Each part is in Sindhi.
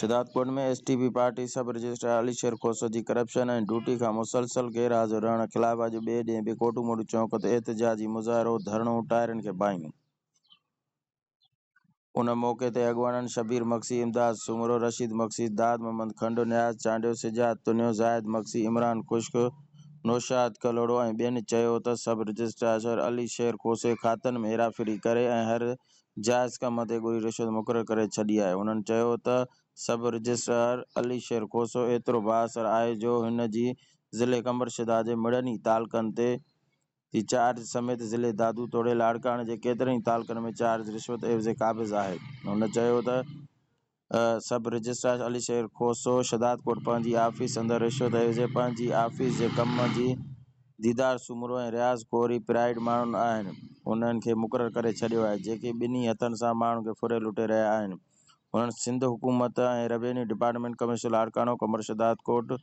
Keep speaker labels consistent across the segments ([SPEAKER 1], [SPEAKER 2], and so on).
[SPEAKER 1] Shahdadkot ۾ S T P party sub registrar Ali Sher Khoso جي ڪرپشن ۽ ڊيوٽي کان مسلسل غير حاضر رهڻ خلاف اڄ ٻئي ڏينهن به ڪوٽو موٽو چونڪ تي احتجاجي مظاهرو، ڌرڻو، ٽائرن کي باهيون. ان موقعي تي اڳواڻن شبير مگسي، امداد سومرو، رشيد مگسي، داد محمد کنڊ، نياز چانڊيو، سجاد تنيو، زاهد مگسي، عمران خشڪ، نوشاد ڪلهوڙو ۽ ٻين چيو ته سب رجسٽراشر علي شير کوسي کاتن ۾ هيراڦيري ڪري ۽ هر جائز ڪم تي ڳوري رشوت مقرر ڪري ڇڏي آهي. هنن چيو ته سب رجسٽرار علي شير کوسو ايترو بااثر آهي جو هن جي ضلعي قمبرشداد جي مڙني تعلقن تي جي چارج سميت ضلعي دادو توڙي لاڙڪاڻي جي ڪيترن ئي تعلقن ۾ چارج رشوت عيوضي قابض آهي. هن چيو ته سب رجسٽرار علي شير کوسو شھدادڪوٽ پنهنجي آفيس اندر رشوت عيوضي پنهنجي آفيس جي ڪم جي ديدار سومرو ۽ رياض ڪوري پرائيڊ ماڻهن آهن انهن کي مقرر ڪري ڇڏيو آهي جيڪي ٻنهي هٿن سان ماڻهن کي ڦري لٽي رهيا آهن هن سنڌ حڪومت ۽ روينيو ڊپارٽمينٽ ڪمشنر لاڙڪاڻو ڪمر شھدادڪوٽ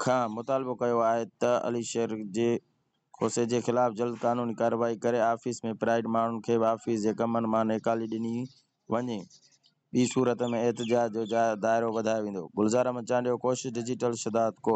[SPEAKER 1] کان مطالبو ڪيو آهي ته علي شير جي کوسي جي خلاف جلد قانوني ڪارروائي ڪري آفيس ۾ پرائيڊ ماڻهن کي به آفيس جي ڪمن مان نيڪالي ڏني وڃي ٻي صورت ۾ احتجاج جو دائرو وڌايو ويندو گلزار احمد چانڊيو ڪوشش ڊجيٽل شھداد ڪوٽ.